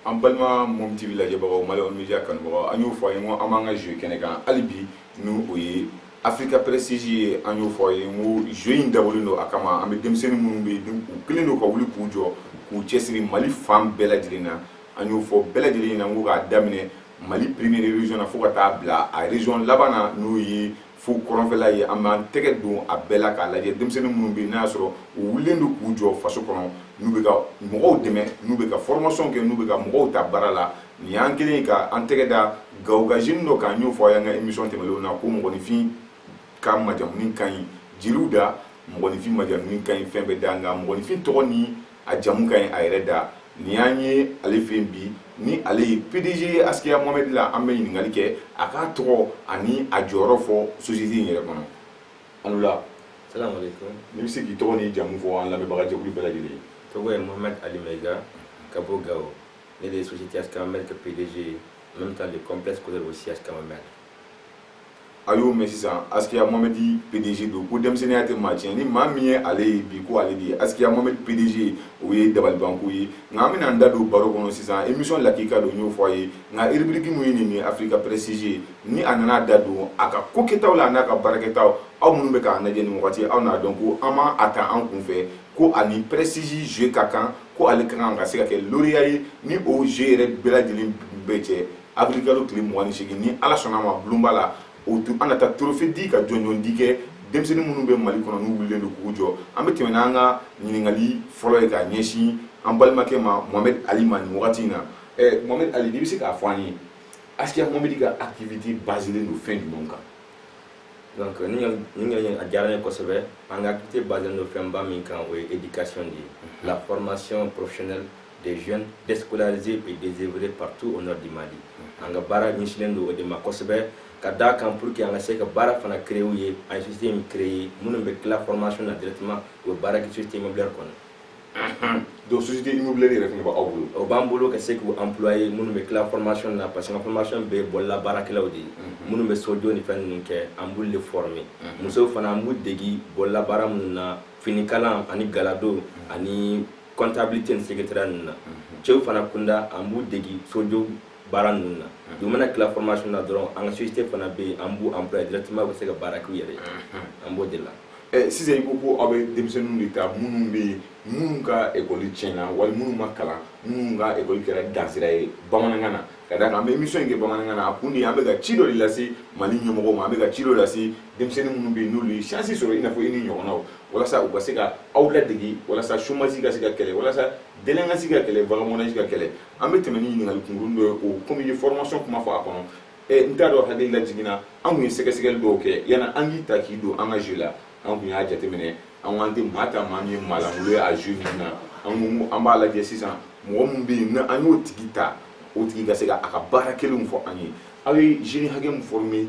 an balima mom tv lajɛbagaw malion media kanubagaw an y'o fɔ a ye ko an b'an ka jeu kɛnɛ kan hali bi n'u o ye africa prestige ye an y'o fɔ a ye ko jeu in dabɔlen don a kama an bɛ denmisɛnnin minnu bɛ yen u kɛlen don ka wuli k'u jɔ k'u cɛsiri mali fan bɛɛ lajɛlen na an y'o fɔ bɛɛ lajɛlen ɲɛna ko k'a daminɛ mali première région na fo ka taa bila a région laban na n'o ye fo kɔrɔnfɛla ye an b'an tɛgɛ don a bɛɛ la k'a lajɛ denmisɛnnin minnu bɛ n'a y'a sɔrɔ u wulilen don k'u jɔ faso kɔnɔ n'u bɛ ka mɔgɔw dɛmɛ n'u bɛ ka formation kɛ n'u bɛ ka mɔgɔw ta baara la nin y'an kɛlen ye ka an tɛgɛ da gao ka jeune dɔ kan n y'o fɔ a y'an ka émission tɛmɛnenw na ko mɔgɔninfin ka majamuni ka ɲi jeliw da mɔgɔninfin majamuni ka ɲi fɛn bɛɛ da nka mɔgɔninfin tɔgɔ ni a jamu ka ɲi a yɛrɛ da nin y'an ye ale fɛ bi ni ale ye pdg ye askia mohamed la an bɛ ɲininkali kɛ a k'a tɔgɔ ani a jɔyɔrɔ fɔ société in yɛrɛ kɔnɔ an wula salamu aleykum n'i bɛ se k'i tɔgɔ n'i jamu fɔ an lamɛnbaga jɛkulu bɛɛ lajɛlen tɔgɔ ye mohamed ali maiga ka bɔ gao ne de ye société askia mohamed ka pdg ye n bɛ taa de complexe scolaire aussi askia mohamed a y'o mɛn sisan askia mohamed pdg don ko denmisɛnninya tɛ maa tiɲɛ ni maa min ye ale ye bi ko ale de ye askia mohamed pdg o ye dabalibanko ye nka an bɛna an da don baro kɔnɔ sisan émission lakika don y'o fɔ a ye nka rubrique min ye nin ye africa prestige ni an nana da don a ka kokɛtaw la ani a ka baara kɛtaw aw minnu bɛ k'an lajɛ nin wagati aw n'a dɔn ko an ma a ta an kun fɛ ko ani prestige jeu ka kan ko ale ka kan ka se ka kɛ lauréat ye ni o jeu yɛrɛ bɛɛ lajɛlen bɛɛ cɛ avril kalo tile mugan ni segin ni ala sɔnna ma bulonba la o tuma an na taa trophée di ka jɔnjɔndi kɛ denmisɛnnin minnu bɛ mali kɔnɔ n'u wulilen don k'u jɔ an bɛ tɛmɛ n'an ka ɲininkali fɔlɔ ye ka ɲɛsin an balimakɛ ma mohamed ali ma nin wagati in na eh, mohamed ali n'i bɛ se k'a fɔ an ye askia mohamed ka activité basilen don fɛn jumɛn kan donc i ka ɲininkali a diyara ne kosɛbɛ an ka activité basilen don fɛnba min kan o ye éducation de ye la formation professionnelle des jeunes déscolarisés et désœuvrés partout au nord du Mali an ka baara ɲɛsinnen don o de ma kosɛbɛ ka d'a kan pour que an ka se ka baara fana créer u ye an ye société min créer minnu bɛ tila formation na directement u bɛ baara kɛ société immobilière kɔnɔ donc société immobilière yɛrɛ fana b'aw bolo o b'an bolo ka se k'u employer minnu bɛ tila formation na parce que an ka formation bɛ bolola baarakɛlaw de ye minnu bɛ sojɔ ni fɛn ninnu kɛ an b'olu de former musow fana an b'u degi bolola baara ninnu na finikalan ani galadon ani comptabilité ni secrétariat ninnu na mhm. cɛw fana kunda an b'u degi sojow baara ninnu na mhm. u mana tila formation na dɔrɔn an ka société fana bɛ yen an b'u employer directement u bɛ se ka baara k'u yɛrɛ ye mhm. an b'o de la eh, sisan i ko ko aw bɛ denmisɛnninw de ta minnu bɛ yen minnu ka ekɔli tiɲɛna wali minnu ma kalan minnu ka ekɔli kɛra dansira ye bamanankan na ka d'a kan an bɛ émission in kɛ bamanankan na a kun de an bɛ ka ci dɔ de lase mali ɲɛmɔgɔw ma an bɛ ka ci dɔ lase denmisɛnnin minnu bɛ yen n'olu ye chance sɔrɔ i n'a fɔ i n'i ɲɔgɔnnaw walasa u ka se ka aw ladege walasa chômage ka se ka kɛlɛ walasa délinquance ka kɛlɛ vagabondage ka kɛlɛ an bɛ tɛmɛ ni ɲininkali kunkurunnin dɔ ye o komi i ye formation kuma fɔ a kɔnɔ n t'a dɔn hakili lajiginna an kun ye sɛgɛsɛgɛli dɔw kɛ yanni an k'i ta k'i don an ka jeu la an kun y'a jateminɛ an k'an tɛ maa ta maa min ye maalankolon ye a zu min na an an b'a lajɛ sisan mɔgɔ min bɛ yen na an y'o tigi ta o tigi ka se ka a ka baara kelenw fɔ an ye aw ye jeune hakɛ min former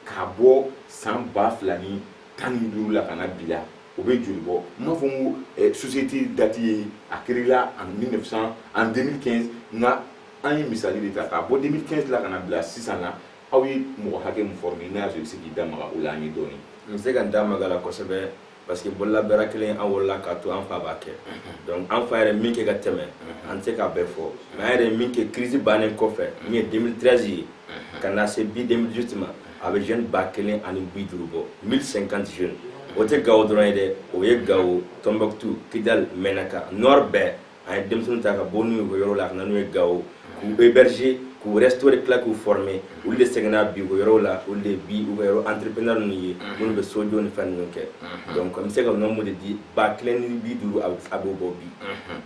k'a bɔ san ba fila ni tan ni duuru la ka na bi la o bɛ joli bɔ n m'a fɔ n ko eh, société date ye a créela en 1900 en 2015 nka an ye misali de ta k'a bɔ 2015 la ka na bila sisan na aw ye mɔgɔ hakɛ min former n'a y'a sɔrɔ i bɛ se k'i da maga o la an ye dɔɔni. N bɛ se ka n da maga a la kosɛbɛ parce que bololabaara kelen an wolola k'a to an fa b'a kɛ donc an fa yɛrɛ min kɛ ka tɛmɛ an tɛ se k'a bɛɛ fɔ mais an yɛrɛ min kɛ crise bannen kɔfɛ min ye 2013 ye ka na se bi 2018 ma a bɛ jeune ba kelen ani bi duuru bɔ 1050 jeunes o tɛ Gawo dɔrɔn ye dɛ o ye Gawo Tombouctou Kidal Menaka Nord bɛɛ an ye denmisɛnnin ta ka bɔ n'u ye u ka yɔrɔ la ka na n'u ye Gawo k'u héberger k'u restaurer tila k'u former olu de seginna bi u ka yɔrɔw la olu de bi u ka yɔrɔ entrepreneur ninnu ye minnu bɛ sojɔ ni fɛn ninnu kɛ donc n bɛ se ka nombre de di ba kelen ni bi duuru a b'o bɔ bi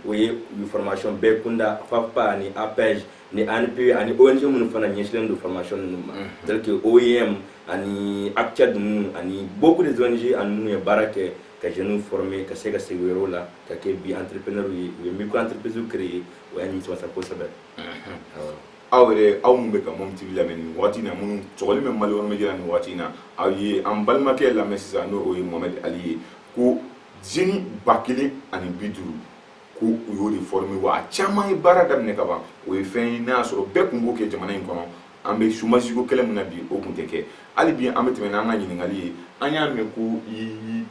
o ye u formation bɛɛ kunda FAFPA ani APEJ ni ANPE ani ONG minnu fana ɲɛsinlen don formation ninnu ma tel que OIM ani ACTED ninnu ani beaucoup des ONG an ni minnu ye baara kɛ ka jeunes former ka se ka segin u yɔrɔw la ka kɛ bi entrepreneur ye u ye micro entreprise créer o y'a nimisa kosɛbɛ aw yɛrɛ aw minnu bɛ ka mɔmu tv lamɛn nin wagati na minnu sɔgɔlen bɛ mali yɔrɔ media nin wagati na aw ye an balimakɛ lamɛn sisan n'o ye mohamed ali ye ko jeune ba kelen ani bi duuru ko u y'o de former wa a caman ye baara daminɛ ka ban o ye fɛn ye n'a y'a sɔrɔ bɛɛ tun b'o kɛ jamana in kɔnɔ an bɛ chômage ko kɛlɛ min na bi o tun tɛ kɛ hali bi an bɛ tɛmɛ n'an ka ɲininkali ye an y'a mɛn ko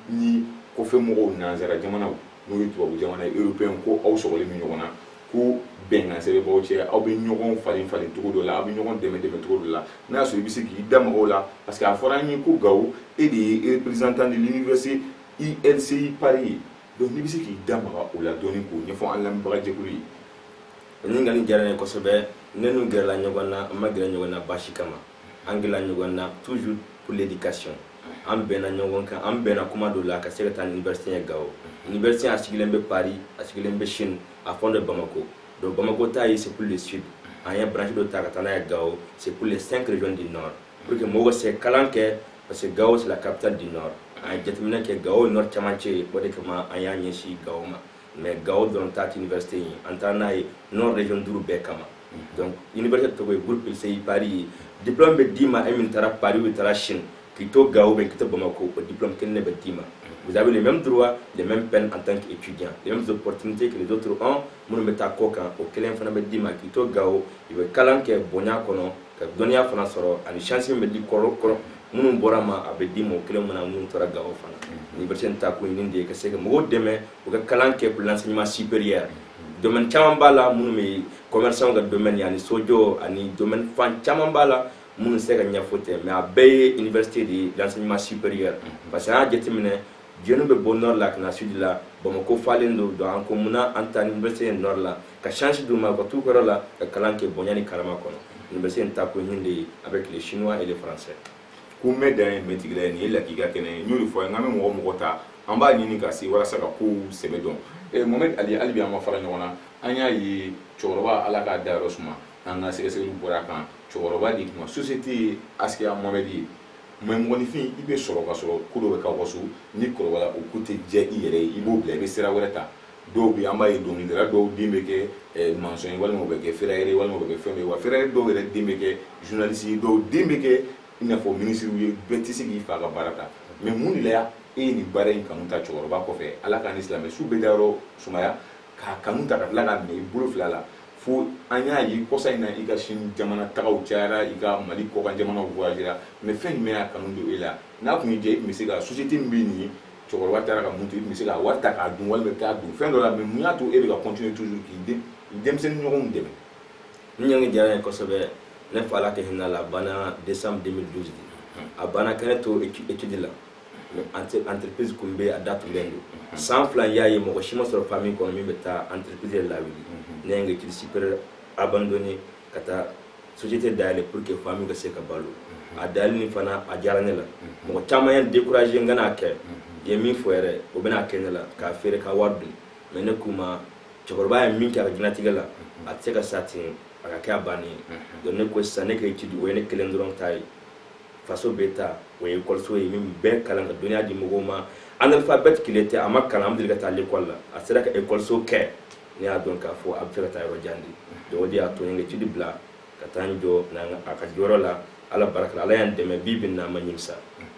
ni kɔfɛ mɔgɔw nanzara jamanaw n'o ye tubabu jamana européen ko aw sɔgɔlen bɛ ɲɔgɔn na ko bɛnkan sɛbɛn b'aw cɛ aw bɛ ɲɔgɔn falen falen cogo dɔ la aw bɛ ɲɔgɔn dɛmɛ dɛmɛ cogo dɔ la n'a y'a sɔrɔ i bɛ se k'i da maga o la parce que a fɔra an ye ko Gawo e de ye représentant de l'université ILCI Paris ye donc n'i bɛ se k'i da maga o la dɔɔni k'o ɲɛfɔ an lamɛnbagajɛkulu ye O ɲininkali diyara n ye kosɛbɛ ne n'u gɛrɛla ɲɔgɔn na an ma gɛrɛ ɲɔgɔn na basi kama an gɛrɛla ɲɔgɔn na toujours pour l'éducation an bɛnna ɲɔgɔn kan an bɛnna kuma dɔ la ka se ka taa ni université ye Gawo université a sigilen bɛ Paris a sigilen bɛ Chine a fana bɛ Bamako donc Bamako ta ye c'est pour le sud an ye branche dɔ ta ka taa n'a ye Gawo c'est pour les cinq régions du nord pour que mɔgɔw ka se kalan kɛ parce que Gawo c'est la capitale du nord an ye jateminɛ kɛ Gawo ye nord camancɛ ye o de kama an y'a ɲɛsin Gawo ma mais gawo dɔrɔn ta tɛ université ye an taara n'a ye nord région duuru bɛɛ kama donc université tɔgɔ ye groupe ilsei paris ye diplôme bɛ d'i ma e min taara paris ou taara chine k'i to gawo ou bien k'i to bamako o diplôme kelen de bɛ d'i ma vous avez les mêmes droits les mêmes peines en tant qu'étudiant les mêmes opportunités que les autres ont minnu bɛ taa kɔkan o kelen fana bɛ d'i ma k'i to gawo i bɛ kalan kɛ bonya kɔnɔ ka dɔnniya fana sɔrɔ ani chance min bɛ di kɔrɔ kɔrɔ minnu bɔra ma a bɛ di mɔgɔ kelen min na minnu tora gawo fana université in taa kun ye nin de ye ka se ka mɔgɔw dɛmɛ u ka kalan kɛ pour l'enseignement supérieur domaine caman b'a la minnu bɛ commerçant ka domaine ani sojɔ ani domaine fan caman b'a la minnu se ka ɲɛfɔ tɛ mais a bɛɛ ye université de ye l'enseignement supérieur parce que an y'a jateminɛ jeunew bɛ bɔ nord la ka na sud la bamako falen don donc an ko munna an tɛ taa n'université ye nord la ka chance d'u ma ka t'u ka yɔrɔ la ka kalan kɛ bonya ni karama kɔnɔ université in taa kun ye nin de ye avec les chinois et les français ko mɛ dan ye mɛtigila ye nin ye lakika kɛnɛ ye n y'o de fɔ ye n ka bɛ mɔgɔ o mɔgɔ ta an b'a ɲini ka se walasa ka kow sɛbɛ dɔn eh, mohamed ali hali bi an ma fara ɲɔgɔn na an y'a ye cɛkɔrɔba ala k'a dayɔrɔ suma an ka sɛgɛsɛgɛliw bɔra a kan cɛkɔrɔba de tuma société ye asikiya mohamed ye mais mɔgɔninfin i bɛ sɔrɔ ka sɔrɔ ko dɔ bɛ kɛ aw so n'i kɔrɔbayara o ko tɛ diya i yɛrɛ ye i b'o bila i bɛ sira wɛrɛ ta dɔw bɛ an b'a ye dɔnkilidala dɔw den bɛ kɛ eh, mansɔn ye walima u bɛ kɛ ferrailleur ye walima u bɛ kɛ fɛn dɔ ye wa ferrailleur dɔw yɛrɛ den bɛ kɛ journaliste ye dɔw den bɛ kɛ i n'a fɔ minisiriw ye bɛɛ tɛ se k'i fa ka baara ta mais mun de la e ye nin baara in kanu ta cɛkɔrɔba kɔfɛ ala k'a ni silamɛ su bɛɛ dayɔrɔ sumaya k'a kanu ta ka tila k'a minɛ i bolo fila la fo an y'a ye kɔsa in na i ka chine jamana tagaw cayara i ka mali kɔkan jamanaw voyagera mais fɛn jumɛn y'a kanu don e la n'a tun y'i diya i tun bɛ se ka société min bɛ nin ye cɛkɔrɔba taara ka min to i tun bɛ se ka wari ta k'a dun walima k'a don fɛn dɔ la mais mun y'a to e bɛ ka continuer toujours k'i den denmisɛnnin ɲɔgɔnw dɛmɛ ɲininkali diyara n ye kosɛbɛ ne fa ala ka hinɛ a la a banna décembre 2012 a banna ka ne to étude la entreprise tun bɛ a da tugulen don mhm. san fila y'a ye mɔgɔ si ma sɔrɔ famille kɔnɔ min bɛ taa entreprise yɛrɛ lawuli mhm. ne ye n ka étude supérieure abandonné ka taa société dayɛlɛ pour que famille ka se ka balo mhm. a dayɛlɛ nin fana a digira ne la mɔgɔ caman ye n découragé n kan'a kɛ i ye min fɔ yɛrɛ o bɛna kɛ ne la k'a feere ka wari dun mais ne k'u ma cɛkɔrɔba ye min kɛ a ka diɲɛlatigɛ la a tɛ se ka sa ten a ka kɛ a bannen ye donc ne ko sisan ne ka étude o ye ne kelen dɔrɔn ta ye faso bɛɛ ta o ye ekɔliso ye min bɛ kalan ka dɔnniya di mɔgɔw ma analphabète illettré a ma kalan a ma taa lekɔli la a sera ka ekɔliso kɛ ne y'a dɔn k'a fɔ a b'a fɛ ka taa yɔrɔ jan de donc o de y'a to n ye étude bila ka taa n jɔ a ka jɔyɔrɔ la ala barika ala y'an dɛmɛ bi bi in na n ma ɲimisa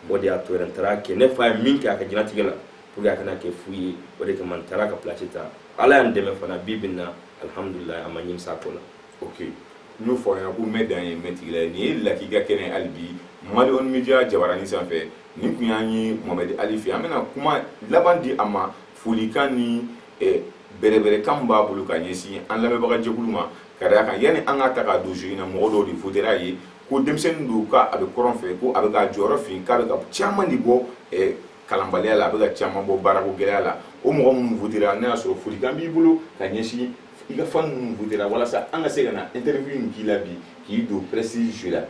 o de y'a to yɛrɛ n taara kɛ ne fa ye min kɛ a ka diɲɛlatigɛ la pour que a kana kɛ fu ye o de kama n taara k'a place ta ala y'an dɛmɛ fana bi bi in na alhamdulilayi an ma ɲimisa a ko la ok n y'o fɔ a ɲɛna ko mɛ dan ye mɛtigila ye nin ye lakika kɛnɛ hali bi mali wan media jabaranin sanfɛ nin tun y'an ye mohamɛdi ali fɛ an bɛna kuma laban di a ma folikan ni eh, bɛrɛbɛrɛkan b'a bolo ka ɲɛsin an lamɛnbaga jɛkulu ma ka d'a kan yanni an ka ta k'a don in na mɔgɔ dɔw de votera i ye ko denmisɛnnin don ka a bɛ kɔrɔn fɛ ko a bɛ ka jɔyɔrɔ fa k'a bɛ ka caman de bɔ eh, kalanbaliya la a bɛ ka caman bɔ baarako gɛlɛya la o mɔgɔ minnu votera n'a y'a sɔrɔ folikan b'i bolo ka ɲɛsin i ka fan minnu votera walasa an ka se ka na interview in k'i la bi k'i don prestige la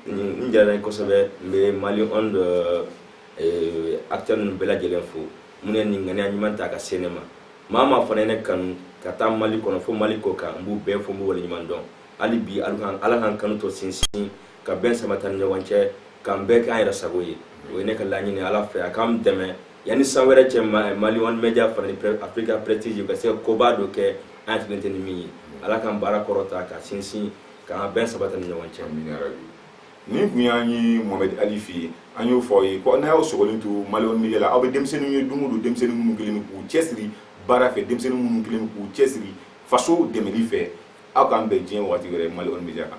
nin diyara n ye kosɛbɛ n bɛ mali wan de eh, acteur ninnu bɛɛ lajɛlen fo minnu ye nin ŋaniya ɲuman ta ka se ne ma maa o maa fana ye ne kanu ka taa mali kɔnɔ fo mali kɔ kan n b'u bɛɛ fo n b'u waleɲuman dɔn hali bi ala k'an kanu to sinsin ka bɛn sabati an ni ɲɔgɔn cɛ k'an bɛɛ k'an yɛrɛ sago ye o ye ne ka laɲini ala fɛ a k'an dɛmɛ yanni san wɛrɛ cɛ mali wan media fana ni afrika prestige ka se koba dɔ kɛ an sigilen tɛ ni min ye ala k'an baara kɔrɔta ka sinsin k'an bɛn sabati an ni ɲɔgɔn cɛ nin tun y'an ye mohamed ali fɛ yen an y'o fɔ ye ko n'a y'aw sɔgɔlen to mali wan media la aw bɛ denmisɛnninw ye don o don denmisɛnnin minnu kɛlen k'u cɛsiri baara fɛ denmisɛnnin minnu kɛlen k'u cɛsiri faso dɛmɛli fɛ aw k'an bɛn diɲɛ waati wɛrɛ mali wan media kan